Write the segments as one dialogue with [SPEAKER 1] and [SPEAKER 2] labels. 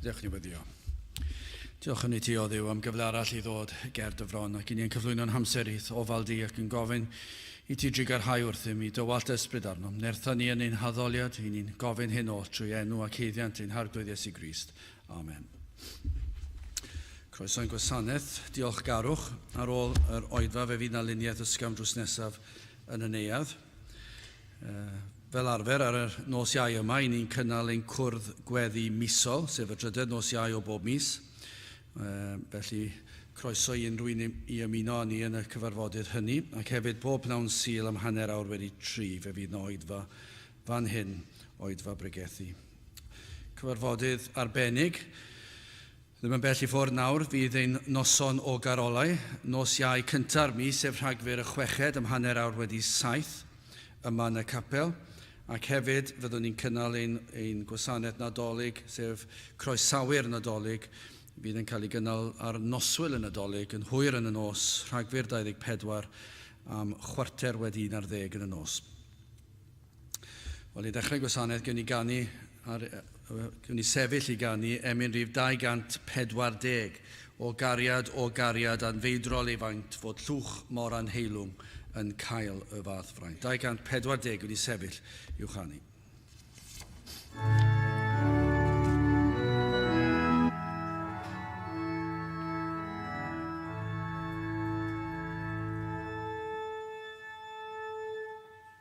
[SPEAKER 1] Diolch i wedi o. Diolch yn ei ti o ddiw am gyfle arall i ddod ger dy fron ac i ni yn cyflwyno'n hamser i'th ofal di ac yn gofyn i ti drigarhau wrthym i dy wallt ysbryd arnom. Nertha ni yn ein haddoliad, i ni'n gofyn hyn oll trwy enw ac heiddiant ein harglwydd Iesu Grist. Amen. Croeso'n gwasanaeth, diolchgarwch. Ar ôl yr oedfa fe fydd na luniaeth ysgafn drws nesaf yn y neuadd. Uh, fel arfer ar y nos iau yma, i ni'n cynnal ein cwrdd gweddi misol, sef y drydedd nos iau o bob mis. Uh, felly, croeso i unrhyw un i ymuno â ni yn y cyfarfodydd hynny, ac hefyd bob pnawn sil am hanner awr wedi tri, fe fydd na oedfa fan hyn, oedfa bregethu. Cyfarfodydd arbennig, Ddim yn bell i ffwrdd nawr fydd ein noson o garolau, nos Iau cynta'r mis sef Rhagfyr y chweched am hanner awr wedi saith yma yn y capel ac hefyd fyddwn ni'n cynnal ein ein gwasanaeth Nadolig sef Croesawu'r Nadolig fydd yn cael ei gynnal ar noswyl y Nadolig yn hwyr yn y nos, Rhagfyr 24 am chwarter wedi un ar ddeg yn y nos. Wel, i ddechrau gwasanaeth, gwn i ganu ar, gwn i sefyll i ganu emyn rhif 240 o gariad o gariad anfeidrol ei faint fod llwch mor anheilwng yn cael y fath fraint. 240 gwn i sefyll i'w chanu.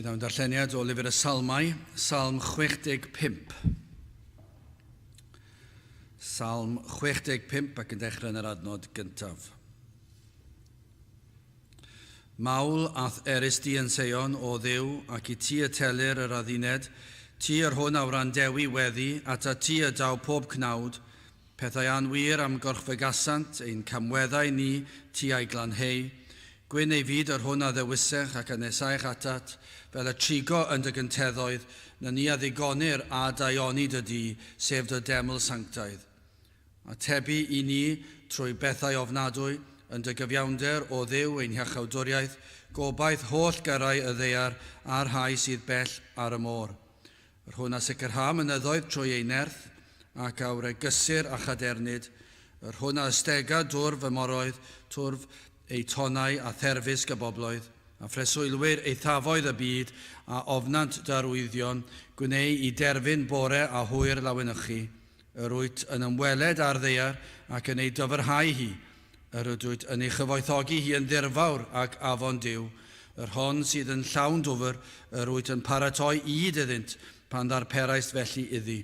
[SPEAKER 1] Bydd am darlleniad o lyfr y Salmau, Salm 65. Salm 65 ac yn dechrau yn yr adnod gyntaf. Mawl a'th erys di yn seion, O Dduw, ac i ti y telir yr adduned, ti yr hwn a wrandewi weddi, ata ti y daw pob cnawd, pethau anwir am gorchfygasant ein camweddau ni, ti a'i glanheu, gwyn ei fyd yr hwn a ddewisech ac a nesaech atat, fel y trigo yn dy gynteddoedd, na ni a ddigonir â daioni dy du, sef dy deml sanctaidd. Atebu i ni trwy bethau ofnadwy, yn dy gyfiawnder, O Dduw, ein hiachawdwriaeth, gobaith holl gyrrau y ddaear a'r rhai sydd bell ar y môr. Yr hwn a sicrha mynyddoedd trwy ei nerth, ac a wregysir â chadernid, yr hwn a ystega dwrf y moroedd, twrf eu tonnau a therfysg y bobloedd, a phreswylwyr eithafoedd y byd a ofnant dy arwyddion, gwneu i derfyn bore a hwyr lawenychu, Yr wyt yn ymweled â'r ddaear ac yn ei dofyrhau hi, yr ydwyt yn ei chyfoethogi hi yn ddirfawr ac afon Duw, yr hon sydd yn llawn dwfr, yr wyt yn paratoi ŷd iddynt pan ddarperaist felly iddi.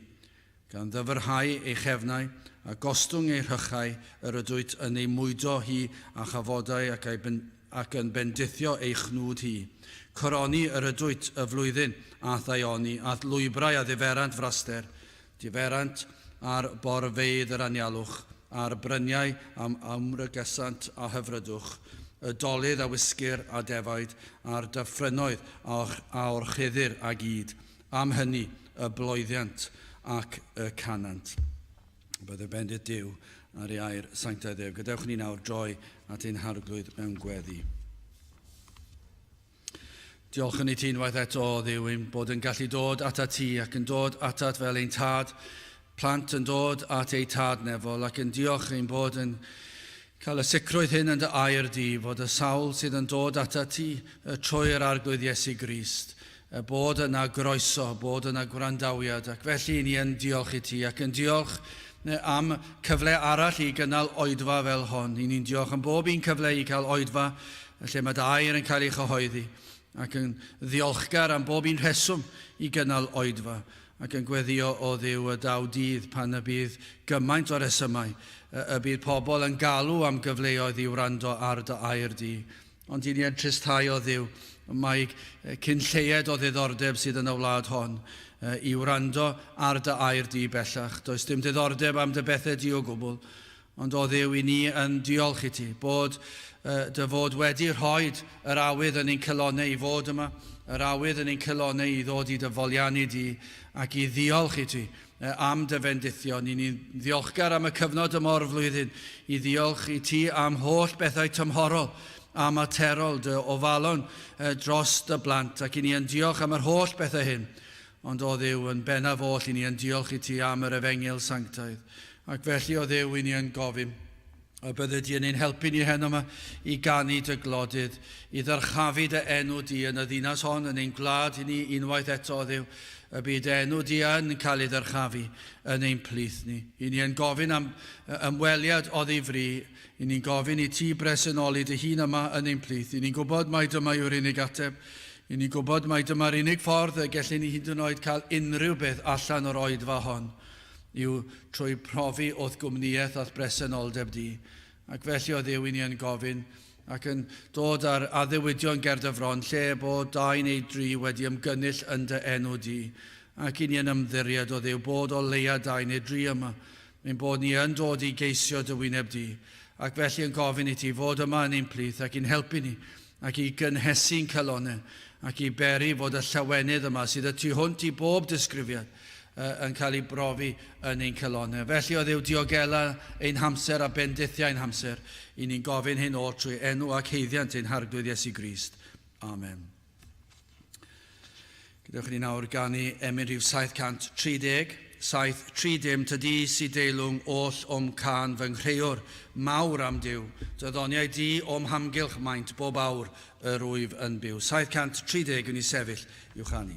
[SPEAKER 1] Gan ddyfyrhau ei chefnau, a gostwng ei rhychau, yr ydwyt yn ei mwydo hi â chafodau ac a'i ac yn bendithio ei chnwd hi. Coroni yr ydwyt y flwyddyn a'th daioni, a'th lwybrau a ddiferant fraster, Diferent ar borfeydd yr anialwch a'r bryniau am amrygesant a hyfrydwch y dolydd a wisgir a defaid a'r dyffrynnoedd a orchuddir a gyd am hynny y bloeddiant ac y canant bydde bendith Duw ar ei air sanctaidd ef. Gadewch ni nawr droi at ein Harglwydd mewn gweddi. Diolch yn i ti unwaith eto, Dduw, ein bod yn gallu dod ata ti ac yn dod atat fel ein tad, plant yn dod at eu tad nefol ac yn diolch ein bod yn cael y sicrwydd hyn yn dy air di fod y sawl sydd yn dod ata ti y trwy'r arglwydd Iesu Grist, y bod yna groeso, bod yna gwrandawiad ac felly ni yn diolch i ti ac yn diolch am cyfle arall i gynnal oedfa fel hon. I ni'n diolch am bob un cyfle i cael oedfa yn lle mae dy air yn cael ei chyhoeddi, ac yn ddiolchgar am bob un rheswm i gynnal Oedfa, ac yn gweddïo, O Dduw, y daw dydd pan y bydd gymaint o resymau, y, y bydd pobl yn galw am gyfleoedd i wrando ar dy air di. Ond i ni yn tristau, O Dduw, mae cyn lleied o ddiddordeb sydd yn y wlad hon i wrando ar dy air di bellach. Does dim diddordeb am dy bethau di o gwbl, Ond o Dduw i ni yn diolch i ti, bod dy fod wedi rhoi yr awydd yn ein calonnau i fod yma, yr awydd yn ein calonnau i ddod i dy foliannu di, ac i ddiolch i ti am dy fendithion. I ni'n ddiolchgar am y cyfnod yma o'r flwyddyn, i ddiolch i ti am holl bethau tymhorol a materol, dy ofalon dros dy blant, ac i ni yn diolch am yr holl bethau hyn Ond o Dduw yn bennaf oll i ni yn diolch i ti am yr Efengyl sanctaidd, ac felly o Dduw i ni yn gofyn y bydde di yn ein helpu ni heno yma i ganu dy glodydd, i ddyrchafu dy enw di yn y ddinas hon, yn ein gwlad i ni unwaith eto, o Dduw, y bydd dy enw di yn cael ei ddyrchafu yn ein plith ni. I ni yn gofyn am ymweliad oddifri I ni'n gofyn i ti bresennoli dy hun yma yn ein plith. I ni'n gwybod mai dyma yw'r unig ateb. I ni'n gwybod mai dyma'r unig ffordd y gellyn ni hyd yn oed cael unrhyw beth allan o'r oedfa hon, yw trwy profi o'th gwmnïaeth a'th bresenoldeb di. Ac felly, o Dduw, i ni yn gofyn, ac yn dod ar addewidion ger dy fron, lle bo dau neu dri wedi ymgynnull yn dy enw di, ac i ni yn ymddiried, o Dduw, bod o leia dau neu dri yma, Ein bod ni yn dod i geisio dy wyneb di, ac felly yn gofyn i ti fod yma yn ein plith ac i'n helpu ni, ac i gynhesu'n calonnau, ac i beri fod y llawenydd yma sydd y tu hwnt i bob disgrifiad, yn cael ei brofi yn ein calonnau. Felly, o Dduw, diogela ein hamser a bendithia ein hamser, i ni'n gofyn hyn oll trwy enw ac haeddiant ein Harglwydd Iesu Grist. Amen. Gadewch i ni nawr ganu emyn rhif 730, 730 tydi si deilwng oll o'm cân fy nghreuwr mawr am Duw, dy ddoniau di o'm hamgylch maent bob awr yr wyf yn byw. 730 wn i sefyll i'w chanu.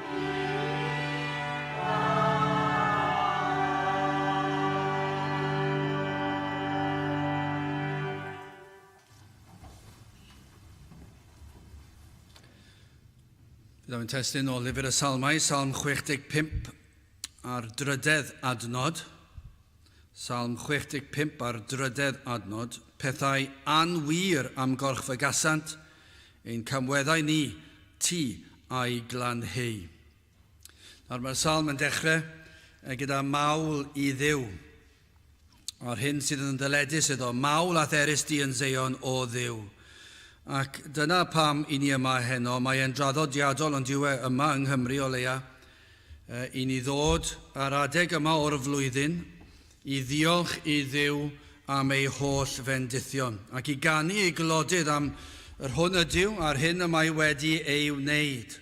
[SPEAKER 1] Byddaf yn testyn o lyfr y salmau, salm 65 a'r drydedd adnod. Salm 65 a'r drydedd adnod, Pethau anwir am gorch fy gasant, ein camweddau ni, ti a'i glanheu. Nawr mae'r salm yn dechrau e gyda mawl i Dduw, a'r hyn sydd yn ddyledus iddo, mawl a therys di yn Seion, o Dduw. Ac dyna pam i ni yma heno, mae e'n draddodiadol ond yw e yma yng Nghymru o leia, i ni ddod ar adeg yma o'r flwyddyn i ddiolch i Dduw am ei holl fendithion, ac i ganu i Glodydd am yr hwn ydyw a'r hyn y mae wedi ei wneyd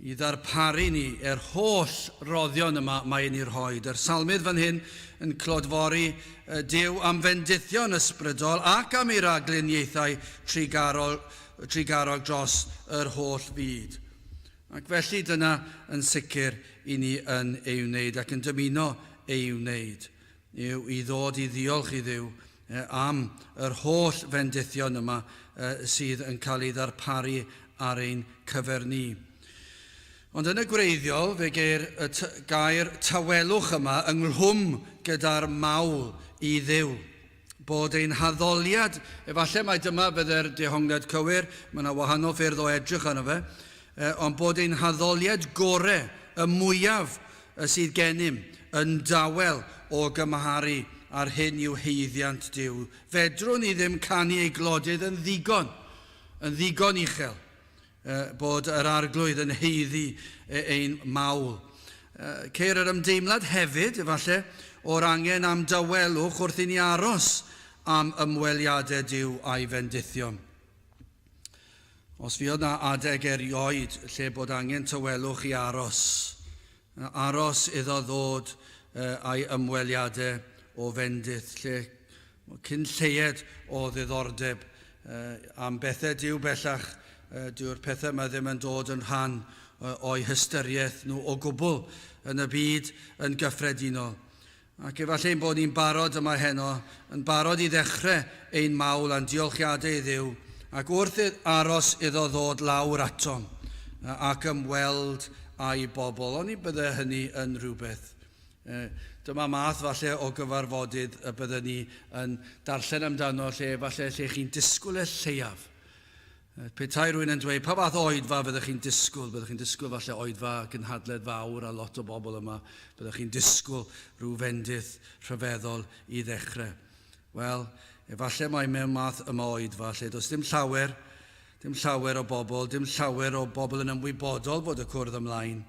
[SPEAKER 1] i ddarparu ni er holl roddion y mae yn i rhoid. Yr Salmydd fan hyn yn clodfori Duw am fendithion ysbrydol ac am ei ragluniaethau trugarol, trugarog dros yr holl fyd. Ac felly, dyna yn sicr i ni yn ei wneud ac yn dymuno ei wneud, yw i ddod i ddiolch i Dduw am yr holl fendithion yma sydd yn cael ei ddarparu ar ein cyfer ni. Ond yn y gwreiddiol, fe geir y gair tawelwch yma ynghlwm gyda'r mawl i Dduw. bod ein haddoliad, efallai mai dyma fydde'r dehongliad cywir, mae yna wahanol ffyrdd o edrych arno fe, ond bod ein haddoliad gorau, y mwyaf, y sydd gennym, yn dawel o gymharu â'r hyn i'w haeddiant Duw. Fedrwn ni ddim canu ei glodydd yn ddigon, yn ddigon uchel. bod yr Arglwydd yn haeddu ein mawl. Ceir yr ymdeimlad hefyd, efallai, o'r angen am dawelwch wrth i ni aros am ymweliadau Duw a'i fendithion. Os fuodd na adeg erioed lle bod angen tawelwch i aros, Aros iddo ddod a'i ymweliade o fendith, lle cyn lleied o ddiddordeb am bethe Duw bellach, dyw'r pethe yma ddim yn dod yn rhan o'u hystyriaeth nhw o gwbl yn y byd yn gyffredinol. Ac efallai ein bod ni'n barod yma heno, yn barod i ddechrau ein mawl a'n diolchiadau i Dduw, ac wrth aros iddo ddod lawr atom ac ymweld â'i bobl. Oni bydde hynny yn rhywbeth? Dyma math falle o gyfarfodydd y bydden ni yn darllen amdano lle efallai lle chi'n disgwyl y lleiaf Petai rwy'n yn dweud pa fath o oedfa fyddech chi'n disgwyl, byddech chi'n disgwyl falle oedfa gynhadledd fawr a lot o bobl yma, byddech chi'n disgwyl rhyw fendith rhyfeddol i ddechrau. Wel, efallai mai mewn math yma o oedfa, lle does dim llawer, dim llawer o bobl, dim llawer o bobl yn ymwybodol fod y cwrdd ymlaen,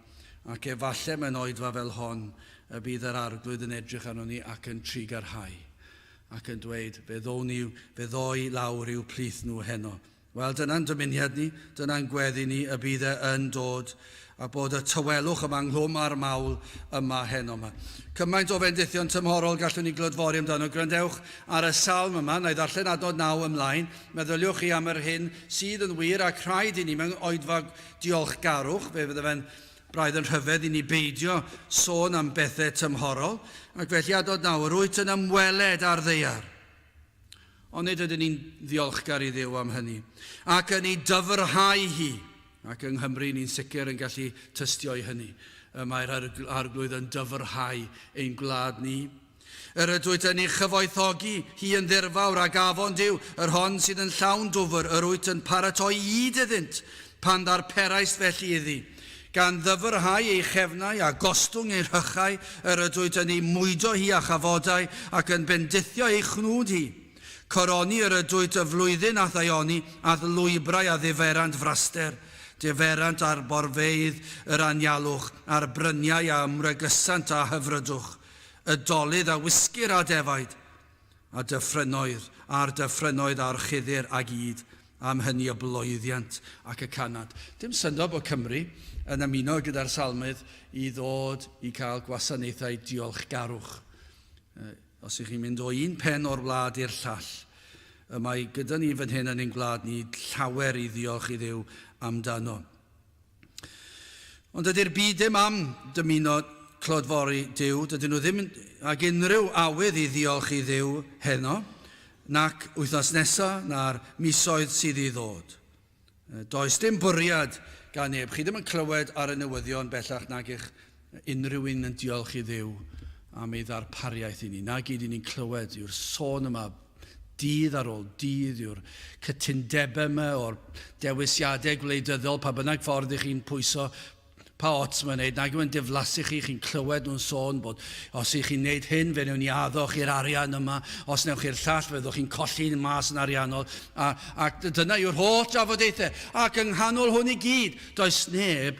[SPEAKER 1] ac efallai mewn oedfa fel hon y bydd yr Arglwydd yn edrych arnon ni ac yn trigarhau. ac yn dweud, Fe ddown i, fe ddoi lawr i'w plith nhw heno. Wel, dyna'n dymuniad ni, dyna'n gweddi ni, y bydd e yn dod, a bod y tawelwch yma ynghlwm â'r mawl yma heno. Mae cymaint o fendithion tymhorol gallwn ni glodfori amdano. Gwrandewch ar y salm yma, na i ddarllen adnod naw ymlaen. Meddyliwch chi am yr hyn sydd yn wir ac rhaid i ni mewn oedfa diolchgarwch. Fe fydde fe'n Braidd yn rhyfedd i ni beidio sôn am bethau tymhorol, ac felly a dod nawr, wyt yn ymweled â'r ddaear. Ond nid ydyn ni'n ddiolchgar i Dduw am hynny, ac yn ei dyfrhau hi, ac yng Nghymru ni'n sicr yn gallu tystio i hynny. Y mae'r Arglwydd yn dyfrhau ein gwlad ni. Yr ydwyt yn ei chyfoethogi hi yn ddirfawr, ac afon Duw, yr hon sydd yn llawn dwfr, yr wyt yn paratoi ŷd iddynt, pan ddarperaist felly iddi. Gan ddyfrhau ei chefnau, a gostwng ei rhychau, yr ydwyt yn ei mwydo hi â chafodau, ac yn bendithio ei chnwd hi. Coroni yr ydwyt y flwyddyn a'th aeoni, a'th lwybrau a ddiferant fraster. Diferant arborfeydd yr anialwch, a'r bryniau a ymwregysant â hyfrydwch. Y dolydd a wisgir â defaid, a dyffrynnoedd, a'r dyffrynnoedd a'r chuddir ag ŷd, am hynny y bloeddiant ac y canant. Dim syndod bod Cymru yn ymuno gyda'r Salmydd i ddod i cael gwasanaethau diolchgarwch. Os ych chi'n mynd o un pen o'r wlad i'r llall, y mae gyda ni fan hyn yn ein gwlad ni llawer i ddiolch i Dduw amdano. Ond dydy'r byd ddim am dymuno clodfori Duw, dydyn nhw ddim ag unrhyw awydd i ddiolch i Dduw heno, nac wythnos nesaf, na'r misoedd sydd i ddod. Does dim bwriad gan neb. Chi ddim yn clywed ar y newyddion bellach nag eich Mae unrhyw un yn diolch i Dduw am ei ddarpariaeth i ni. Na gyd i ni'n clywed yw'r sôn yma dydd ar ôl dydd yw'r cytundebau yma o'r dewisiadau gwleidyddol, pa bynnag ffordd i chi'n pwyso pa ots mae'n neud, nag yw'n diflasu chi, chi'n clywed nhw'n sôn bod os i chi'n neud hyn fe newn ni addo chi'r arian yma, os newch chi'r llall fe ddwch chi'n colli yn mas yn ariannol, a, ac dyna yw'r holl drafodaethau, ac yng nghanol hwn i gyd, does neb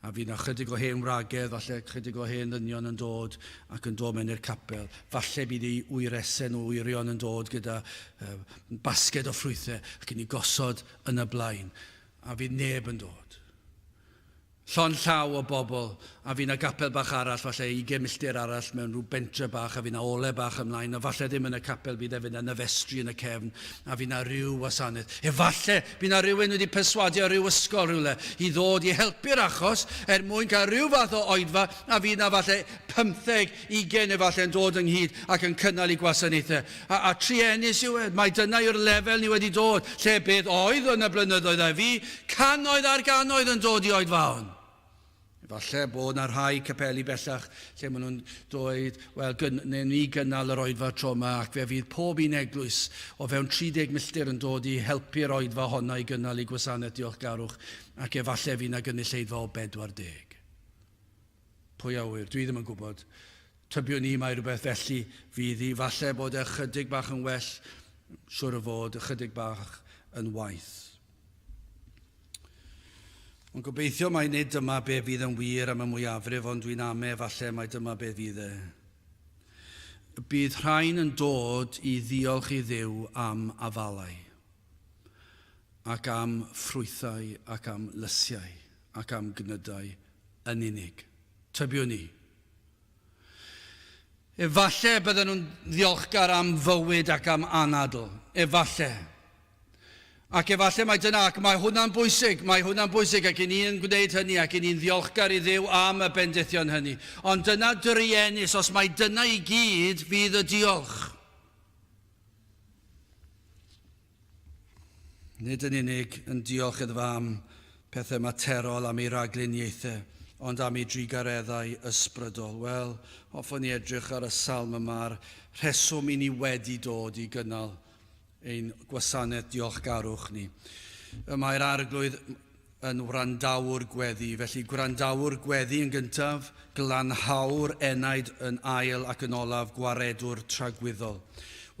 [SPEAKER 1] A fydd 'na chydig o hen wragedd, falle chydig o hen ddynion yn dod ac yn dod mewn i'r capel. Falle bydd eu wyresau nhw, wyrion yn dod gyda basged o ffrwythau ac yn ei gosod yn y blaen. A fydd neb yn dod. Llond llaw o bobl A fy' 'na gapel bach arall, falle ugain milltir arall mewn rhyw bentre bach, a fy' 'na ole bach ymlaen, a falle ddim yn y capel, bydd efyd 'na nyfestri yn y cefn, a fy' 'na ryw wasanaeth. Efalle by' 'na rywun wedi perswadio ryw ysgol rywle i ddod i helpu'r achos er mwyn cael ryw fath o oedfa, a fydd 'na falle pymtheg, ugain efalle yn dod ynghyd ac yn cynnal eu gwasanaethau. A, a truenus yw e. Mai dyna yw'r lefel ni wedi dod, lle beth oedd yn y blynyddoedd a fu, cannoedd ar gannoedd yn dod i oedfaon. Efallai bod yna rhai capeli bellach lle maen nhw'n dweud, wel, newn ni gynnal yr oedfa tro yma ac fe fydd pob un eglwys o fewn 30 milltir yn dod i helpu'r oedfa honno i gynnal ei gwasanaeth diolchgarwch ac efallai fydd yna gynulleidfa o 40. Pwy a ŵyr, dwi ddim yn gwybod. Tybiwn i mai rhywbeth felly fydd hi. Falle bod e ychydig bach yn well, siwr o fod, ychydig bach yn waeth. Ond gobeithio mai nid dyma be fydd yn wir am y mwyafrif ond dwi'n ame falle mai dyma be fydd e. Y bydd rhain yn dod i ddiolch i Dduw am afalau, ac am ffrwythau ac am lysiau ac am gnydau yn unig. Tybiwn i. Efallai bydden nhw'n ddiolchgar am fywyd ac am anadl. Efallai. Ac efallai mai dyna, ac mae hwnna'n bwysig, mae hwnna'n bwysig ac i ni yn gwneud hynny ac i ni'n ddiolchgar i Dduw am y bendithion hynny. Ond dyna druenus, os mai dyna i gyd fydd y diolch. Nid yn unig yn diolch iddo am pethau materol, am ei ragluniaethau, ond am ei drugareddau ysbrydol. Wel, hoffwn ni edrych ar y salm yma, a'r rheswm i ni wedi dod i gynnal ein gwasanaeth diolchgarwch ni. Y mae'r Arglwydd yn wrandawr gweddi, felly gwrandawr gweddi yn gyntaf, glanhawr enaid yn ail ac yn olaf gwaredwr tragwyddol.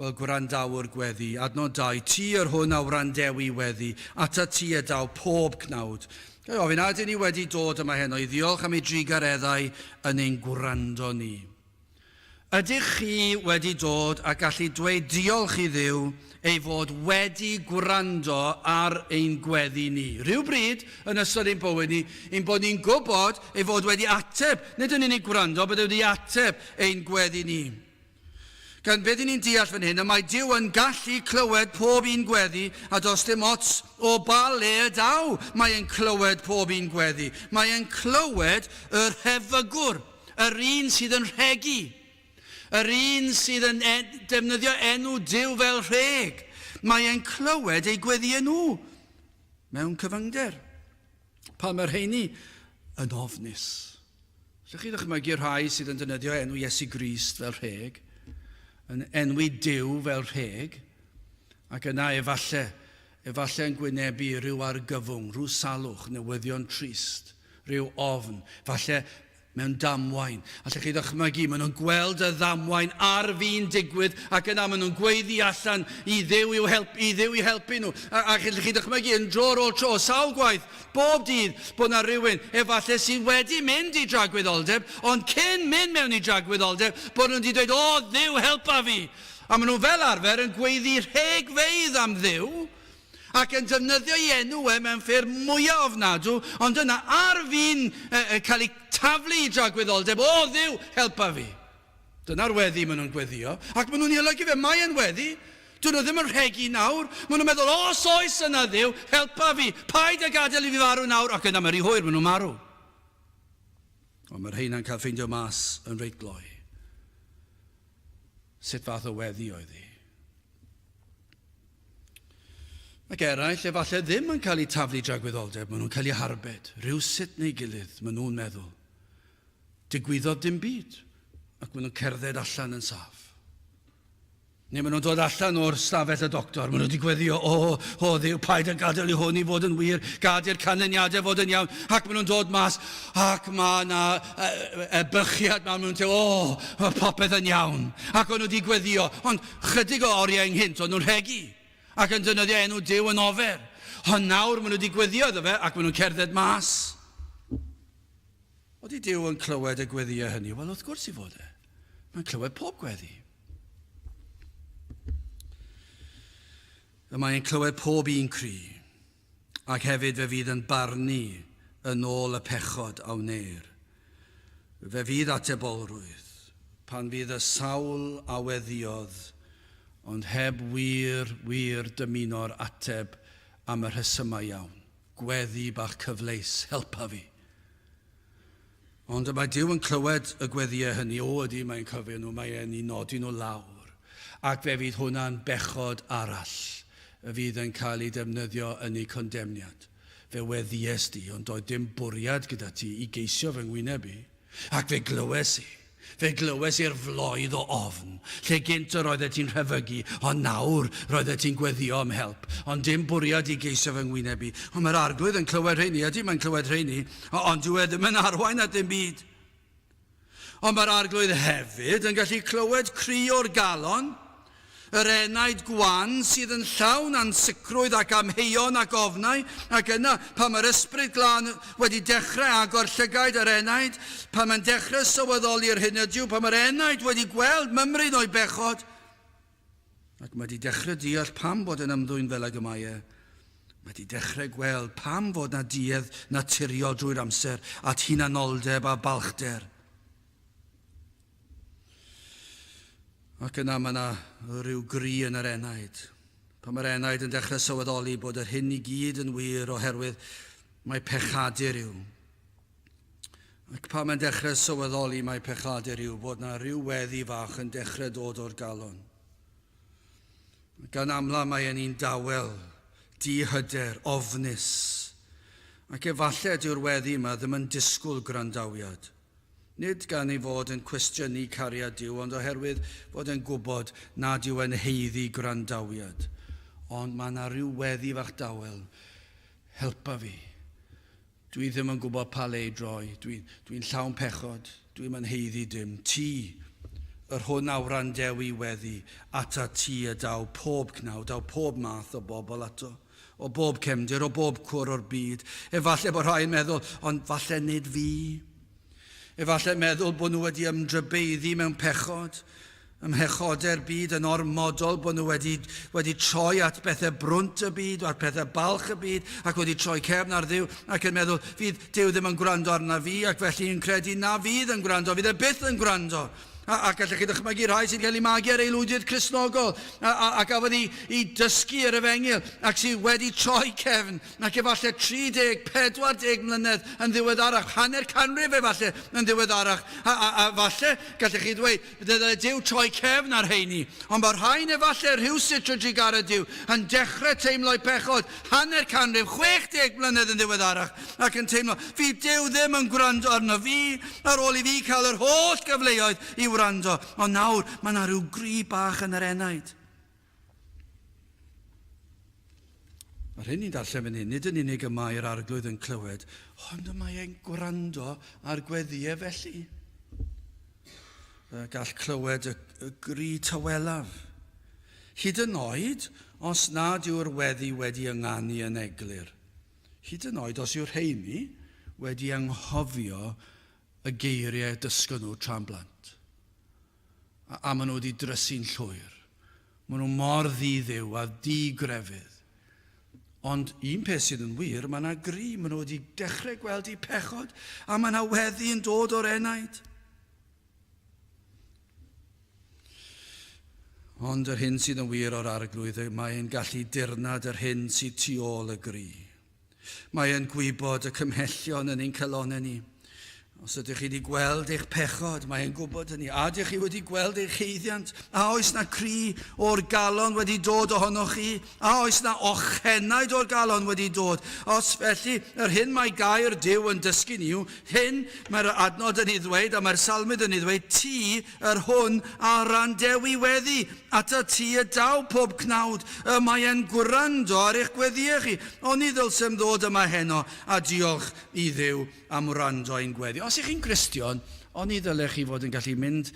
[SPEAKER 1] Wel, gwrandawr gweddi, adnod 2, ti yr hwn a wrandewi weddi, atat ti y daw pob cnawd. Ga'i ofyn, a ydyn ni wedi dod yma heno i ddiolch am ei drugareddau yn ein gwrando ni? Ydych chi wedi dod a gallu dweud diolch i Dduw ei fod wedi gwrando ar ein gweddi ni, rhywbryd yn ystod ein bywyd ni, ein bod ni'n gwybod ei fod wedi ateb, nid yn unig gwrando, bod e wedi ateb ein gweddi ni? Gan beth i ni'n deall fan hyn, y mae Duw yn gallu clywed pob un gweddi, a does dim ots o ba le y daw, mae e'n clywed pob un gweddi. Mae e'n clywed yr hefygwr. Yr un sydd yn rhegi. Yr un sydd yn defnyddio enw Duw fel rheg. Mae e'n clywed eu gweddïau nhw mewn cyfyngder. Pa mae'r rheini yn ofnus. Ydych chi'n ddychmygu'r rhai sydd yn defnyddio enw Iesu Grist fel rheg, yn enwi Duw fel rheg, ac yna efallai Efallai yn gwynebu rhyw argyfwng, rhyw salwch, newyddion trist, rhyw ofn, falle mewn damwain. Allech chi ddychmygu, maen nhw'n gweld y ddamwain ar fin digwydd ac yna maen nhw'n gweiddi allan i Dduw i'w help, i Dduw i helpu nhw. A, a allech chi ddychmygu yn dro ar ôl tro, sawl gwaith, bob dydd, bod yna rhywun efallai sydd wedi mynd i dragwyddoldeb, ond cyn mynd mewn i dragwyddoldeb, bod nhw'n wedi dweud, O, Dduw, helpa fi! A maen nhw fel arfer yn gweiddi rhegfeydd am Dduw ac yn defnyddio ei enw e mewn ffyrdd mwya ofnadw, ond yna ar fin cael eu taflu i dragwyddoldeb, O Dduw, helpa fi! Dyna'r weddi maen nhw'n gweddio, ac maen nhw'n ei olygu fe, Mae e'n weddi, dydyn nhw ddim yn rhegi nawr, maen nhw'n meddwl, Os oes yna Dduw, helpa fi, paid a gadael i fi farw nawr, ac yna mae'n rhy hwyr, maen nhw'n marw. Ond mae'r rheina'n cael ffeindio mas yn reit gloi. Sut fath o weddi oedd hi? Ac eraill, efallai ddim yn cael eu taflu i dragwyddoldeb, maen nhw'n cael eu harbed, rhywsut neu gilydd, maen nhw'n meddwl. Digwyddodd dim byd, ac maen nhw'n cerdded allan yn saff. Neu maen nhw'n dod allan o'r stafell y doctor, maen nhw wedi gweddio, o, o ddiw, paid a gadael i hwn i fod yn wir, gad i'r canlyniadau fod yn iawn, ac maen nhw'n dod mas, Ac mae yna ebychiad mawr mewn tew, o, mae popeth yn iawn. Ac o'n nhw wedi gweddio, ond chydig o oriau ynghynt, o'n nhw'n rhegi ac yn dynyddio enw Dyw yn ofer. Ond nawr maen nhw wedi gweddio iddo fe ac maen nhw'n cerdded mas. Oeddi Dyw yn clywed y gweddio hynny? Wel, wrth gwrs i fod e. Mae'n clywed pob gweddi. Y mae'n clywed pob un cri. Ac hefyd fe fydd yn barnu yn ôl y pechod a wneir. Fe fydd atebolrwydd, pan fydd y sawl a weddïodd, ond heb wir, wir dymuno'r ateb am y rhesymau iawn, gweddi bach cyfleus, helpa fi! Ond y mae Duw yn clywed y gweddiau hynny, o, ydy, mae'n cofio nhw, mae e'n eu nodi nhw lawr, ac fe fydd hwnna'n bechod arall y fydd yn cael ei defnyddio yn eu condemniad. Fe weddies di, ond doedd dim bwriad gyda ti i geisio fy ngwyneb i, ac fe glywes i. Fe glywes i'r floedd o ofn, lle gynt yr oeddet ti'n rhefygu, ond nawr, roeddet ti'n gweddïo am help, ond dim bwriad i geisio fy ngwyneb i. Ond mae'r Arglwydd yn clywed rheini, ydy, mae'n clywed rheini, ond dyw e ddim yn arwain at ddim byd. Ond mae'r Arglwydd hefyd yn gallu clywed cri o'r galon, Yr enaid gwan sydd yn llawn ansicrwydd ac amheuon ac ofnau, ac yna, pan mae'r Ysbryd Glân wedi dechrau agor llygaid yr enaid, pan mae'n dechrau sylweddoli'r hyn ydyw, pan mae'r enaid wedi gweld mymryn o'i bechod, ac mae 'di dechrau deall pam fod e'n ymddwyn fel ag y mae e, mae 'di dechrau gweld pam fod 'na duedd naturiol drwy'r amser at hunanoldeb a balchder. Ac yna mae yna rhyw gri yn yr enaid. Pan mae'r enaid yn dechrau sylweddoli bod yr hyn i gyd yn wir oherwydd mae pechadur yw. Ac pan mae'n dechrau sylweddoli mae pechadur yw bod yna rhyw weddi fach yn dechrau dod o'r galon. Gan amla mae e'n un dawel, dihyder, ofnus. Ac efallai dyw'r weddi yma ddim yn disgwyl gwrandawiad. Nid gan ei fod yn cwestiynu cariad Duw, ond oherwydd fod e'n gwybod nad yw e'n haeddu gwrandawiad. Ond mae 'na ryw weddi fach dawel, Helpa fi. Dwi ddim yn gwybod pa le i droi. Dwi, dwi'n llawn pechod. Dwi'm yn haeddu dim. Ti! Yr hwn a wrandew i weddi, atat ti y daw pob cnawd, daw pob math o bobl ato. O bob cefndir, o bob cwr o'r byd. Efallai bod rhai'n meddwl, ond falle nid fi. Efallai meddwl bod nhw wedi ymdrybeiddi mewn pechod, ym mhechodau'r byd yn ormodol, bod nhw wedi, wedi troi at bethau brwnt y byd, at pethau balch y byd, ac wedi troi cefn ar Dduw, ac yn meddwl, fydd Duw ddim yn gwrando arna fi, ac felly yn credu na fydd yn gwrando, fydd e byth yn gwrando. A, a gallech chi ddychmygu rhai sy'n cael eu magu ar aelwydydd Cristnogol, a, a, a gafodd i, i dysgu yr efengyl, ac sydd wedi troi cefn, ac efallai 30, 40 mlynedd yn ddiweddarach, hanner canrif efallai yn ddiweddarach, a, a, a falle gallech chi ddweud, dyle Duw troi cefn ar rheini. Ond mae rhain efallai rhywsut yn drugaredd Duw, yn dechrau teimlo'u pechod, hanner canrif, 60 mlynedd yn ddiweddarach, ac yn teimlo, fi Duw ddim yn gwrando arno fi, ar ôl i fi cael yr holl gyfleoedd i wrando, ond nawr mae yna rhyw gri bach yn yr enaid. Yr hyn ni'n darllen fan hyn, nid yn unig y mae'r arglwydd yn clywed, ond y mae e'n gwrando ar gweddiau felly. Y gall clywed y, y gri tawelaf. Hyd yn oed os nad yw'r weddi wedi ynganu yn eglur. Hyd yn oed os yw rheiny wedi anghofio y geiriau dysgon nhw tra'n blant, a a maen nhw wedi drysu'n llwyr. Maen nhw mor ddi-Dduw a di-grefydd. Ond un peth sydd yn wir, mae yna gri, maen nhw wedi dechrau gweld eu pechod, a mae yna weddi yn dod o'r enaid. Ond yr hyn sydd yn wir o'r Arglwydd yw mae e'n gallu dirnad yr hyn sydd tu ôl y gri. Mae e'n gwybod y cymhellion yn ein calonau ni. Os ydych chi wedi gweld eich pechod, mae e'n gwybod hynny. A ydych chi wedi gweld eich heiddiant? A oes na cri o'r galon wedi dod ohonoch chi? A oes 'na ochenaid o'r galon wedi dod? Os felly, yr hyn mae gair Duw yn dysgu ni yw hyn, mae'r yr adnod yn ei ddweud, a mae'r salmydd yn ei ddweud, Ti, yr hwn a wrandewi weddi, ata ti y daw pob cnawd, y mae e'n gwrando ar eich gweddiau chi. Oni ddylsem ddod yma heno a diolch i Dduw am wrando ein gweddi? Os y'ch chi'n Gristion, oni ddylech chi fod yn gallu mynd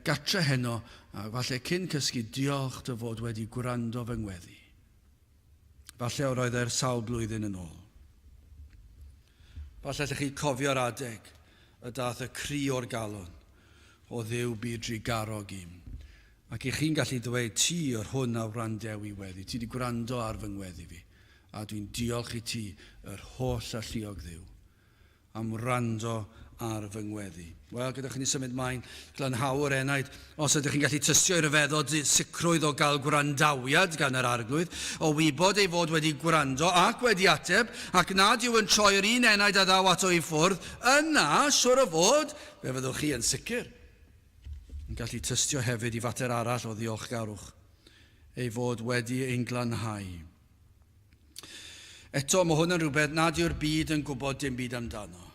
[SPEAKER 1] gartre heno A falle cyn cysgu diolch dy fod wedi gwrando fy ngweddi. Falle yr oedd er sawl blwyddyn yn ôl. Falle allech chi cofio'r adeg y dath y cri o'r galon, O Dduw byd drugarog i'm. Ac i chi'n gallu dweud, ti yr hwn a wrandew i weddi, ti wedi gwrando ar fy ngweddi fi, a dwi'n diolch i ti, yr holl alluog Dduw. am wrando ar fy ngweddi. Wel, gyda chi ni symud mlaen, glanhau yr enaid. Os ydych chi'n gallu tystio i ryfeddod sicrwydd o gael gwrandawiad gan yr Arglwydd, o wybod ei fod wedi gwrando ac wedi ateb, ac nad yw yn troi yr un enaid a ddaw ato i ffwrdd, yna, siŵr o fod, fe fyddwch chi yn sicr yn gallu tystio hefyd i fater arall o ddiolchgarwch, ei fod wedi ein glanhau. Eto, mae hwn yn rhywbeth nad yw'r byd yn gwybod dim byd amdano.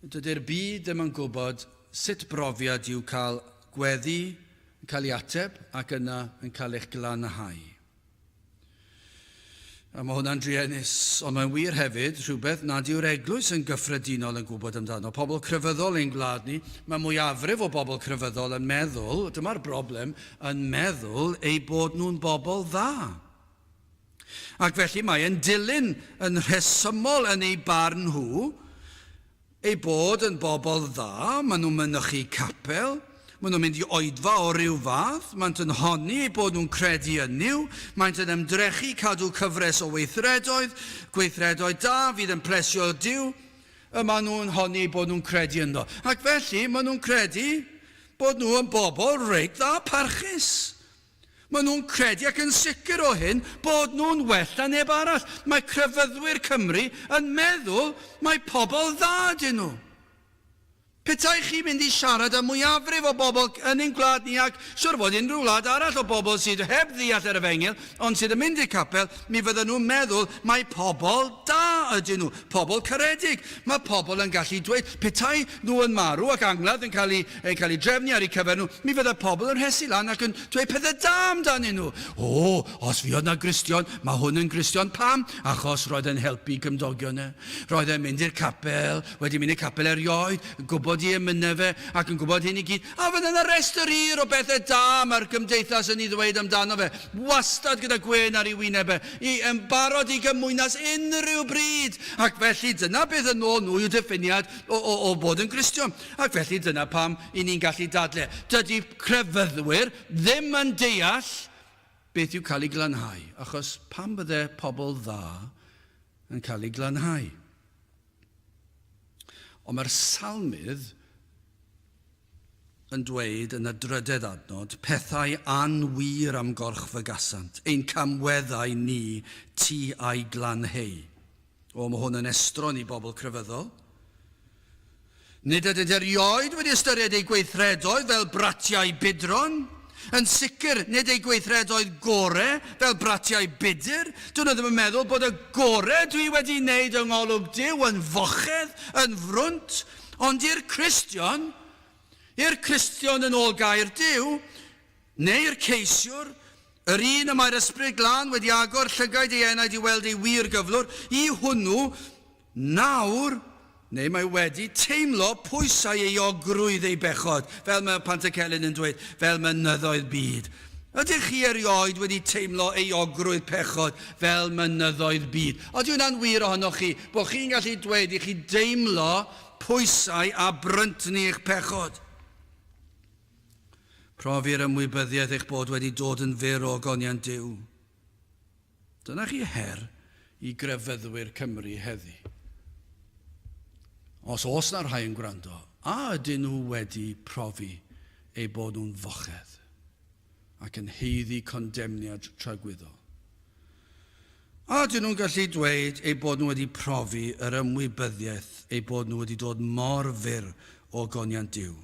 [SPEAKER 1] Dydy'r byd ddim yn gwybod sut brofiad yw cael gweddi yn cael ei ateb ac yna yn cael eich glanhau. A mae hwnna'n druenus, ond mae'n wir hefyd rhywbeth nad yw'r eglwys yn gyffredinol yn gwybod amdano. Pobl crefyddol ein gwlad ni, mae mwyafrif o bobl crefyddol yn meddwl, dyma'r broblem, yn meddwl eu bod nhw'n bobl dda. Ac felly mae e'n dilyn yn rhesymol yn eu barn nhw eu bod yn bobl dda, maen nhw'n mynychu capel, maen nhw'n mynd i oedfa o ryw fath, maent yn honni eu bod nhw'n credu yn Nuw, maent yn ymdrechu cadw cyfres o weithredoedd, gweithredoedd da fydd yn plesio Duw, y maen nhw'n honni eu bod nhw'n credu ynddo. Ac felly maen nhw'n credu Bod nhw yn bobl reit dda parchus. Maen nhw'n credu ac yn sicr o hyn bod nhw'n well na neb arall. Mae crefyddwyr Cymru yn meddwl mai pobl dda ydyn nhw. Petai chi'n mynd i siarad â mwyafrif o bobl yn ein gwlad ni ac siŵr fod unrhyw wlad arall o bobl sydd heb ddeall yr efengyl, Ond sydd yn mynd i'r capel, mi fyddan nhw'n meddwl mai pobl da ydyn nhw, pobl caredig. Mae pobl yn gallu dweud, petai nhw yn marw ac angladd yn cael eu cael eu drefnu ar eu cyfer nhw, mi fydda pobl yn rhesu lan ac yn dweud pethau da amdanyn nhw. O, os fuodd 'na Gristion, mae hwn yn Gristion. Pam? Achos roedd e'n helpu cymdogion e. Roedd e'n mynd i'r capel, wedi mynd i'r capel erioed, yn gwybod i emynau fe, ac yn gwybod hyn i gyd. A fydde 'na restr hir o bethe da mae'r Gymdeithas yn 'i ddweud amdano fe, wastad gyda gwên ar ei wyneb e, i, yn barod i gymwynas unrhyw bryd! Ac felly, dyna beth, yn ôl nhw, yw diffiniad o, o, o fod yn Gristion. Ac felly, dyna pam 'yn ni'n gallu dadle, dydy crefyddwyr ddim yn deall beth yw cael ei glanhau, achos pam fydde pobl dda yn cael eu glanhau? Ond mae'r Salmydd, yn dweud yn y drydedd adnod, pethau anwir am gorch fygasant, ein camweddau ni tu a'i glanheu. O, mae hwn yn estron i bobl crefyddol. Nid ydynt erioed wedi ystyried eu gweithredoedd fel bratiau budron. Yn sicr, nid eu gweithredoedd gore fel bratiau budr. Dyn nhw ddim yn meddwl bod y gore dwi wedi wneud yng ngolwg Duw yn fochedd, yn frwnt, Ond i'r Cristion, i'r Cristion yn ôl gair Duw, neu i'r ceisiwr, yr un y mae'r Ysbryd Glân wedi agor llygaid ei enaid i weld ei wir gyflwr, i hwnnw, nawr, neu mae wedi teimlo pwysau euogrwydd ei bechod, fel mae Pantycelyn yn dweud, fel mynyddoedd byd, Ydych chi erioed wedi teimlo euogrwydd pechod fel mynyddoedd byd? Odi hwnna'n wir ohonoch chi, bod chi'n gallu dweud i chi deimlo pwysau a bryntni eich pechod? Profi'r ymwybyddiaeth eich bod wedi dod yn fyr o ogoniant Duw. Dyna chi her i grefyddwyr Cymru heddi. Os oes na rhai yn gwrando, a ydyn nhw wedi profi eu bod nhw'n fochedd ac yn haeddu condemniad tragwyddol? A ydyn nhw'n gallu dweud eu bod nhw wedi profi yr ymwybyddiaeth eu bod nhw wedi dod mor fyr o goniant Duw?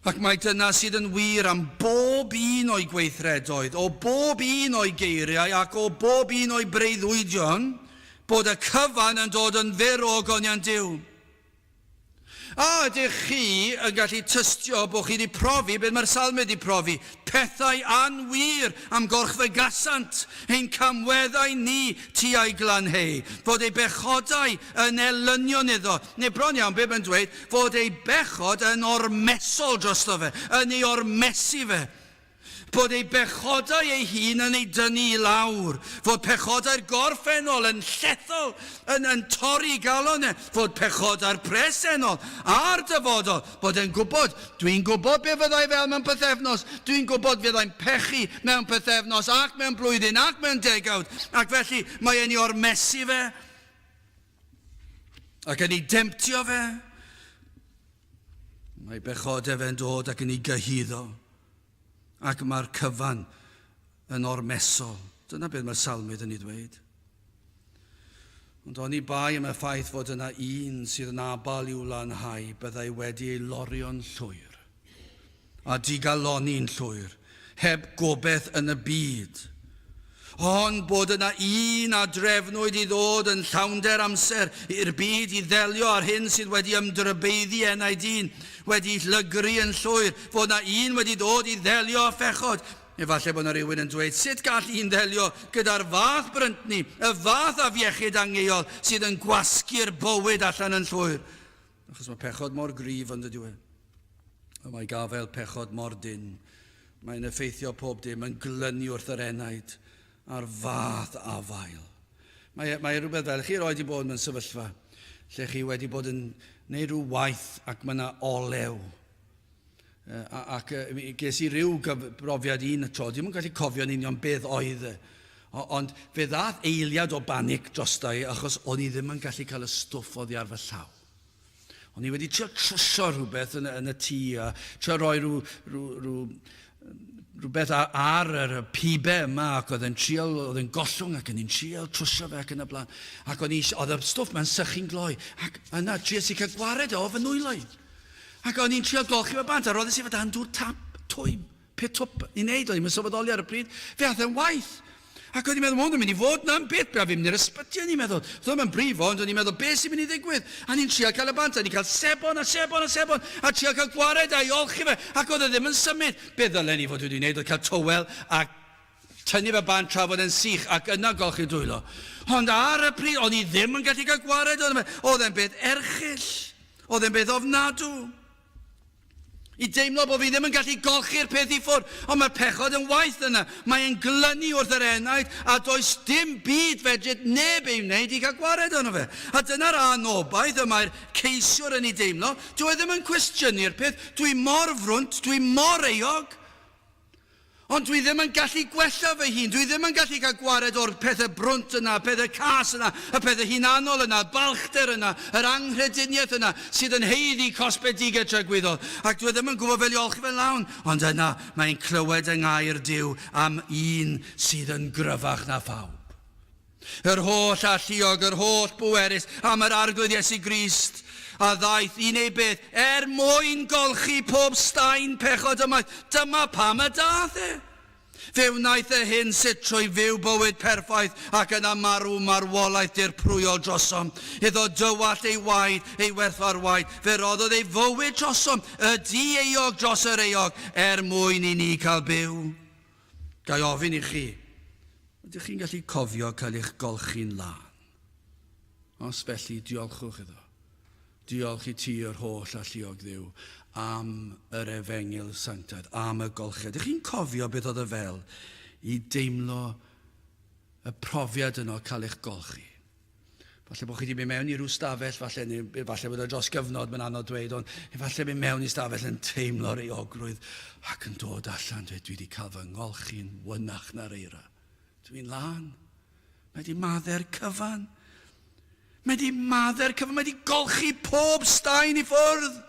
[SPEAKER 1] Ac mae dyna sydd yn wir am bob un o'i gweithredoedd, o bob un o'i geiriau ac o bob un o'i breuddwydion, bod y cyfan yn dod yn fyr o ogoniant Duw. A ydych chi yn gallu tystio bod chi wedi profi beth mae'r Salmod wedi profi, pethau anwir am gorchfygasant ein camweddau ni tua'i glanheu, fod ei bechodau yn elynion iddo, Neu bron iawn, bib yn dweud fod ei bechod yn ormesol drosto fe, yn ei ormesu fe. Bod ei bechodau ei hun yn ei dynnu i lawr. Fod pechodau'r gorffennol yn llethol, yn yn torri i galon e. Fod pechodau'r presennol, a'r dyfodol, bod e'n gwybod, dwi'n gwybod be fydda i fel mewn pythefnos, dwi'n gwybod fydda i'n pechu mewn pythefnos, ac mewn blwyddyn, ac mewn degawd, ac felly mae e'n ei ormesu fe. Ac yn ei demtio fe, mae bechod efen dod ac yn ei gyhyddo, ac mae'r cyfan yn ormesol. Dyna beth mae Salmydd yn ei ddweud. Ond oni bai am y ffaith fod yna un sydd yn abal i'w lanhau, byddai wedi ei lorio'n llwyr. a digalonni'n llwyr, heb gobeith yn y byd. Ond bod yna un a drefnwyd i ddod yn llawnder amser i'r byd i ddelio â'r hyn sydd wedi ymdrybeiddi ena'i dyn, wedi llygru yn llwyr, fod yna un wedi dod i ddelio â phechod. Efallai bod yna rywun yn dweud, sut gall un ddelio gyda'r fath bryntni, y fath afiechyd angheuol sydd yn gwasgu'r bywyd allan yn llwyr? Achos mae pechod mor grif yn dydyw e. A mae gafael pechod mor dyn. Mae'n effeithio pob dim, yn glynu wrth yr enaid, a'r fath afael. Mae, e, mae rhywbeth fel, chi roed i bod mewn sefyllfa lle chi wedi bod yn gwneud rhyw waith ac mae yna olew ac ges i ryw brofiad un y tro, ddim yn gallu cofio'n union beth oedd e, ond fe ddath eiliad o banic drosta i achos o'n i ddim yn gallu cael y stwff oddi ar fy llaw. O'n i wedi trio trwsio rhywbeth yn, yn y tŷ a trio rhoi rhyw, rhyw, rhyw rhywbeth ar yr pibe yma ac oedd yn trial, oedd yn gollwng ac yn un trial trwsio fe ac yn y blaen. Ac oedd, eisiau, oedd y stwff mae'n sychu'n gloi. Ac yna, trias i cael gwared o fy nwylo i. Ac oedd ni'n trial golchi fe bant, a roedd eisiau fod dan dŵr tap, twym, pe twp, i wneud oedd hi'n sylweddoli ar y pryd, fe ath e'n waith. Ac o'n i'n meddwl, ma' hwn yn mynd i fod 'na'n beth braf i mynd i'r ysbyty, o'n i'n meddwl. Doedd o'm yn brifo, ond o'n i'n meddwl, be' sy'n mynd i ddigwydd? A ni'n trial cael y bant, a ni'n cael sebon a sebon a sebon, a trial cael gwared a'i olchi fe, ac oedd e ddim yn symud. Be' ddylen i fod wedi wneud oedd cael towel a tynnu fe bant tra fod e'n sych, ac yna golchi'r dwylo. Ond ar y pryd, o'n i ddim yn gallu cael gwared ohono fe. Oedd e'n beth erchyll. Oedd e'n beth ofnadw. I deimlo bod fi ddim yn gallu golchi'r peth i ffwrdd, ond mae'r pechod yn waeth yna, mae e'n glynu wrth yr enaid a does dim byd fedri neb ei wneud i gael gwared arno fe. A dyna'r anobaith y mae'r ceisiwr yn ei deimlo, dyw e ddim yn cwestiynu'r peth, dwi mor frwnt, dwi mor euog! Ond dwi ddim yn gallu gwella fy hun, dwi ddim yn gallu cael gwared o'r pethau brwnt yna, y pethau cas yna, y pethau hunanol yna, y balchder yna, yr anghrediniaeth yna sydd yn haeddu cosbedigedd tragwyddol. Ac dwi ddim yn gwybod fel i olchi fe'n lawn, ond yna mae e'n clywed yng ngair Duw am un sydd yn gryfach na phawb. Yr holl alluog, yr holl bwerus, am yr Arglwydd Iesu Grist, a ddaeth i wneud beth? Er mwyn golchi pob staen pechod ymaith. Dyma pam y daeth e. Fe wnaeth e hyn sut trwy fyw bywyd perffaith ac yna marw marwolaeth dirprwyol drosom. Iddo dywallt ei waed, ei werthfawr waed, fe roddodd ei fywyd drosom, y du euog dros yr euog, er mwyn i ni cael byw. Ga i ofyn i chi, ydych chi'n gallu cofio cael eich golchi'n lân? Os felly, diolchwch iddo. Diolch i ti, yr holl alluog dduw, am yr efengyl sanctaidd, am y golchiad. Ydych chi'n cofio beth oedd y fel i deimlo y profiad yno cael eich golchi? Falle bod chi wedi mynd mewn i rhyw stafell, falle, neu falle bod e dros gyfnod, mae'n anodd dweud, ond efallai mynd mewn i stafell yn teimlo'r eogrwydd ac yn dod allan, dweud, dwi wedi cael fy ngolchi'n wynach na'r eira. Dwi'n lan. Mae wedi madder cyfan. Mae wedi madder cyfan. Mae wedi golchi pob staen i ffwrdd.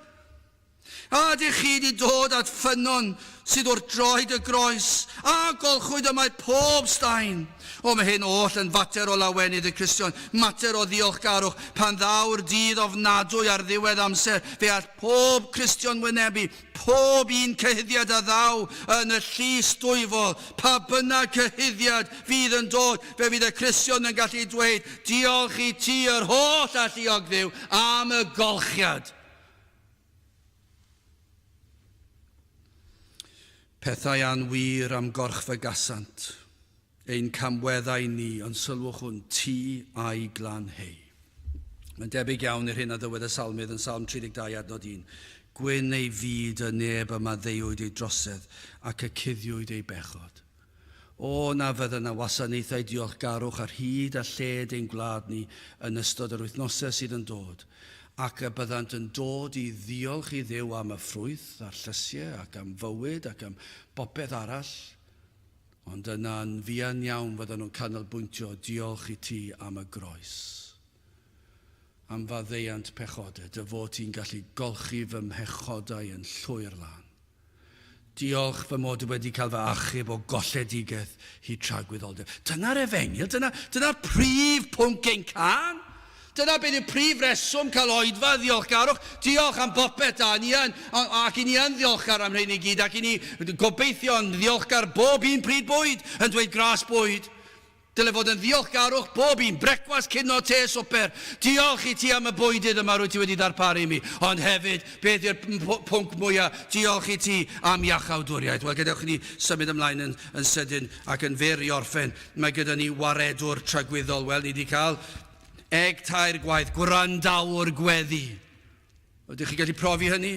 [SPEAKER 1] A ydych chi wedi dod at ffynnon sydd wrth droed y groes, a golchwyd y mae pob staen? O, mae hyn oll yn fater o lawenydd y Cristion, mater o ddiolchgarwch, pan ddaw'r dydd ofnadwy ar ddiwedd amser, fe all pob Cristion wynebu pob un cyhuddiad a ddaw yn y Llys Dwyfol, pa bynnag cyhuddiad fydd yn dod, fe fydd y Cristion yn gallu dweud, Diolch i ti, yr holl Alluog Dduw, am y golchiad. Pethau anwir am gorch fe gasant, ein camweddau ni, ond sylwch hwn, ti a'i glan hei. Mae'n debyg iawn i'r hyn a ddywed y salmydd yn Salm 32 adnod 1. Gwyn ei fyd y neb y maddeuwyd ei drosedd, ac y cuddiwyd ei bechod. O na fydda na wasanaethau diolchgarwch ar hyd a lled ein gwlad ni yn ystod yr wythnosau sydd yn dod, ac y byddant yn dod i ddiolch i Dduw am y ffrwyth a'r llysiau ac am fywyd ac am bopeth arall, ond yna yn fuan iawn fyddan nhw'n canolbwyntio diolch i ti am y groes. am faddeuant pechodau, dy fod ti'n gallu golchi fy mhechodau yn llwyr lân. Diolch fy mod i wedi cael fy achub o golledigaeth hyd tragwyddoldeb. Dyna'r efengyl, dyna, dyna'r prif pwnc ein can. Dyna beth yw prif reswm cael oedfa, ddiolchgarwch. Diolch am bopeth, da, ni yn, ac i ni yn ddiolchgar am rhein i gyd, ac i ni gobeithio yn ddiolchgar bob un pryd bwyd, yn dweud gras bwyd. Dyle fod yn ddiolchgarwch bob un, brecwast, cino, te, swper. Diolch i ti am y bwydydd yma rwyt ti wedi darparu i mi, ond hefyd, beth yw'r pwnc mwya', diolch i ti am iachawdwriaeth. Wel, gadewch i ni symud ymlaen yn yn sydyn ac yn fyr i orffen. Mae gyda ni waredwr tragwyddol. Wel, ni 'di cael eg tair gwaith, gwrandawr gweddi. Ydych chi'n gallu profi hynny?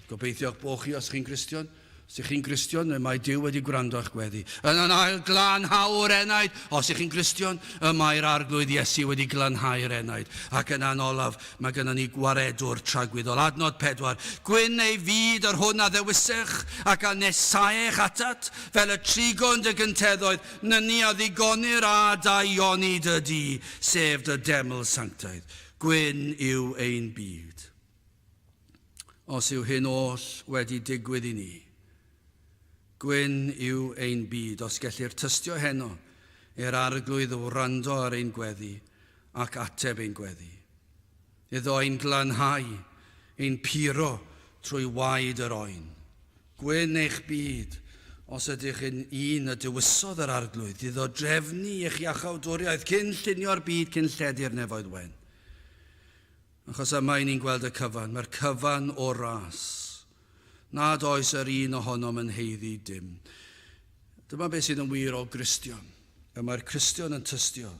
[SPEAKER 1] Gobeithio'ch bod chi os chi'n Gristion. Os ydych chi'n Gristion, y mae Dyw wedi gwrando a'ch gweddi. Yn yn ail glanhau'r enaid. Os ydych chi'n Gristion, y mae'r Arglwydd Iesu wedi glanhau'r enaid. Ac yna yn olaf, mae gynnon ni Gwaredwr tragwyddol. Adnod pedwar, Gwyn ei fyd yr hwn a ddewisech, ac a nesaech atat, fel y trigon dy gynteddoedd, nyni a ddigonir â dy onid y du, sef dy deml sanctaidd. Gwyn yw ein byd. Os yw hyn oll wedi digwydd i ni, Gwyn yw ein byd, os gellir tystio heno i'r Arglwydd wrando ar ein gweddi ac ateb ein gweddi, iddo ein glanhau, ein puro trwy waed yr oen. Gwyn eich byd, os ydych yn un y dewisodd yr Arglwydd iddo drefnu eich iachawdwriaeth cyn llunio'r byd cyn lledu'r nefoedd wen. Achos yma i ni'n gweld y cyfan, mae'r cyfan o'r ras, nad oes yr un ohonom yn haeddu dim. Dyma beth sydd yn wir o Gristion. Y mae'r Cristion yn tystio,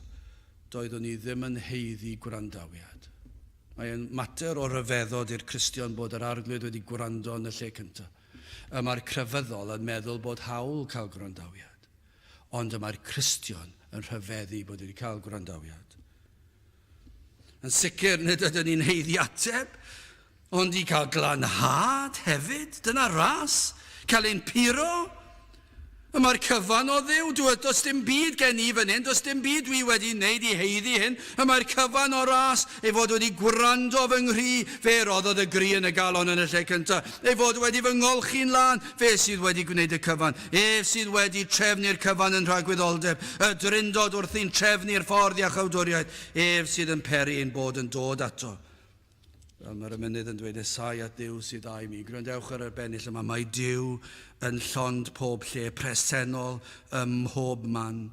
[SPEAKER 1] doeddwn i ddim yn haeddu gwrandawiad. Mae yn mater o ryfeddod i'r Cristion bod yr Arglwydd wedi gwrando yn y lle cyntaf. Y mae'r crefyddol yn meddwl bod hawl cael gwrandawiad. Ond y mae'r Cristion yn rhyfeddu bod wedi cael gwrandawiad. Yn sicr, nid ydyn ni'n heiddi ateb, ond i cael glanhad hefyd, dyna ras, cael ein puro. Y mae'r cyfan o dduw, dwi does dim byd gen i fan hyn, does dim byd dwi wedi wneud i heiddi hyn, y mae'r cyfan o ras ei fod wedi gwrando fy nghri, fe roddodd y gri yn y galon yn y lle cyntaf. ei fod wedi fy ngolchi'n lân, fe sydd wedi gwneud y cyfan, ef sydd wedi trefnu'r cyfan yn rhagwyddoldeb, y Drindod wrthi'n trefnu'r ffordd i achawdwriaeth, ef sydd yn peri ein bod yn dod ato. Fel mae'r emynydd yn dweud, Esau at Dduw sydd â i mi. Gwrandewch ar yr bennill yma, mae Duw yn llond pob lle, presennol ym mhob man.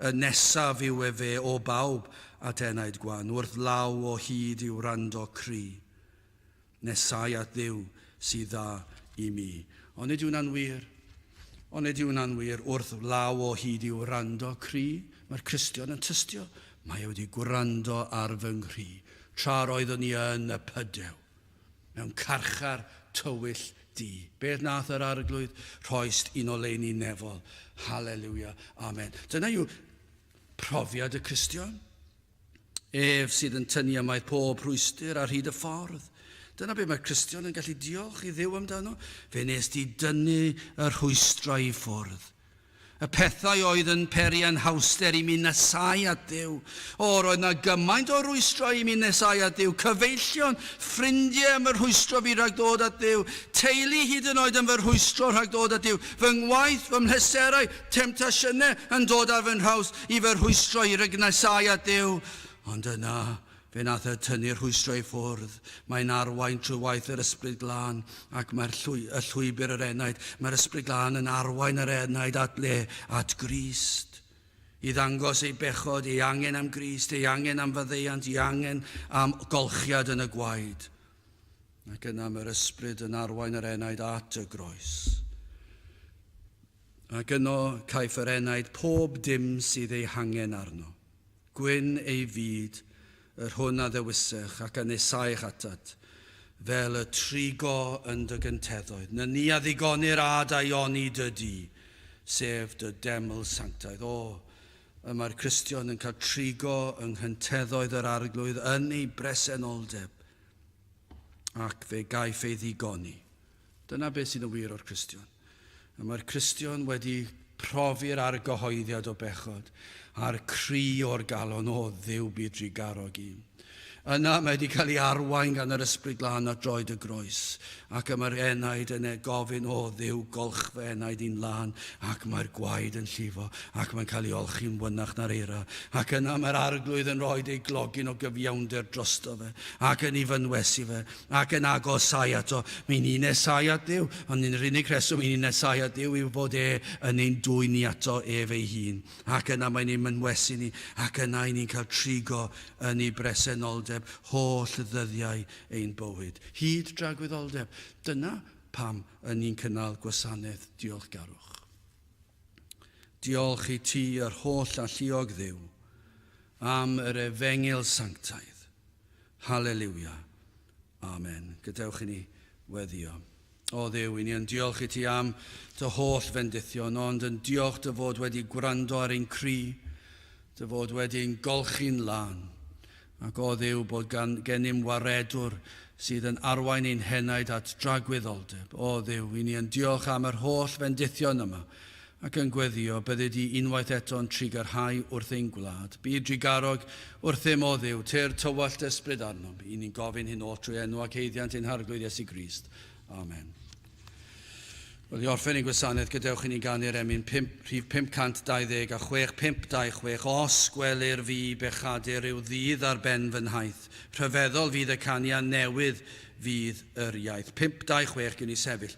[SPEAKER 1] Y nesaf yw efe o bawb at enaid gwan, wrth law o hyd i'w wrando cry. Nesau at Dduw sydd dda i mi. Onid yw hwnna'n wir? Onid yw hwnna'n wir? Wrth law o hyd i'w wrando cry, mae'r Cristion yn tystio, Mae e wedi gwrando ar fy nghri, tra'r oeddwn i yn y pydew, mewn carchar tywyll di. Beth nath yr Arglwydd? Rhoist un oleuni nefol. Haleluia. Amen. Dyna yw profiad y Cristion. Ef sydd yn tynnu ymaith pob rhwystr ar hyd y ffordd. Dyna be mae'r Cristion yn gallu diolch i Dduw amdano. Fe nes di dynnu y rhwystrau i ffwrdd. Y pethau oedd yn peri anhawster i mi nesau at Dduw. O, roedd na gymaint o rwystrau i mi nesau at Dduw. Cyfeillion, ffrindiau yn fy rhwystro fi rhag dod at Dduw. Teulu hyd yn oed yn fy rhwystro rhag dod at Dduw. Fy ngwaith, fy mhleserau, Temtasiynau yn dod ar fy nhraws i fy rhwystro i rygnasau at Duw, ond yna, fe wnaeth y tynnu'r rhwystro i ffwrdd. Mae'n arwain trwy waith yr Ysbryd Glân, ac mae'r llwy, y llwybr yr enaid, mae'r Ysbryd Glân yn arwain yr enaid at le, at Grist. I ddangos ei bechod, ei angen am Grist, ei angen am faddeuant, ei angen am golchiad yn y gwaed. Ac yna mae'r Ysbryd yn arwain yr enaid at y groes. Ac yno caiff yr enaid pob dim sydd ei hangen arno. Gwyn ei fyd, yr hwn a ddewisech, ac a nesaech atat, fel y trigo yn dy gynteddoedd, na ni a ddigonir ad aioni dy du, sef dy deml sanctaidd. O, y mae'r Cristion yn cael trigo yng nghynteddoedd yr Arglwydd yn ei bresenoldeb, ac fe gaiff ei ddigoni. Dyna beth sydd yn wir o'r Cristion. Y mae'r Cristion wedi profi'r argyhoeddiad o bechod a'r cri o'r galon o ddiw byd drugarog un. Yna mae wedi cael ei arwain gan yr Ysbryd Glân at droed y groes, ac y mae'r enaid yn ei gofyn o ddiw golch fy enaid i'n lân, ac mae'r gwaed yn llifo, ac mae'n cael ei olchi'n wynach na'r eira, ac yna mae'r arglwydd yn rhoi ei glogyn o gyfiawnder drosto fe, ac yn ei fynwesu fe, ac yn agosau ato. Mae'n un nesau at Dduw, ond yn yr unig reswm yn un nesau at Dduw yw bod e yn ein dwyn ni ato ef ei hun, ac yna mae'n ein mynwesu ni, ac yna i ni'n cael trigo yn ei bresenoldeb holl ddyddiau ein bywyd, hyd dragwyddoldeb. Dyna pam yn ni'n cynnal gwasanaeth diolchgarwch. Diolch i ti, yr holl alluog Dduw, am yr efengyl sanctaidd, Haleliwia. Amen. Gadewch i ni weddio. O Dduw, i ni yn diolch i ti am dy holl fendithion, ond yn diolch dy fod wedi gwrando ar ein cri, dy fod wedi'n golchi'n lân, ac o Dduw bod gan gennym waredwr sydd yn arwain ein henaid at dragwyddoldeb. O Dduw, i ni yn diolch am yr holl fendithion yma, ac yn gweddïo, byddi di unwaith eto'n trigger high wrth ein gwlad. Byd drugarog, wrthym o Dduw, tyrd tywallt dy ysbryd arnom. Y'n ni'n gofyn hyn oll trwy enw ac haeddiant ein Harglwydd Iesu Grist. Amen. Wrth i orffen ein gwasanaeth, gadewch i ni ganu'r emyn pump, rhif 526 a chwech, 526, Os gwelir fi bechadur rhyw ddydd ar ben fy nhaith, rhyfeddol fydd y canian newydd fydd yr iaith. 526, gwn i sefyll.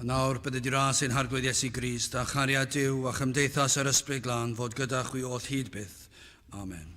[SPEAKER 1] Yn awr, bydde di ras ein harglwydd Iesu Grist, a chariad Dyw a chymdeithas yr ysbryd glân fod gyda chwi oll hyd byth. Amen.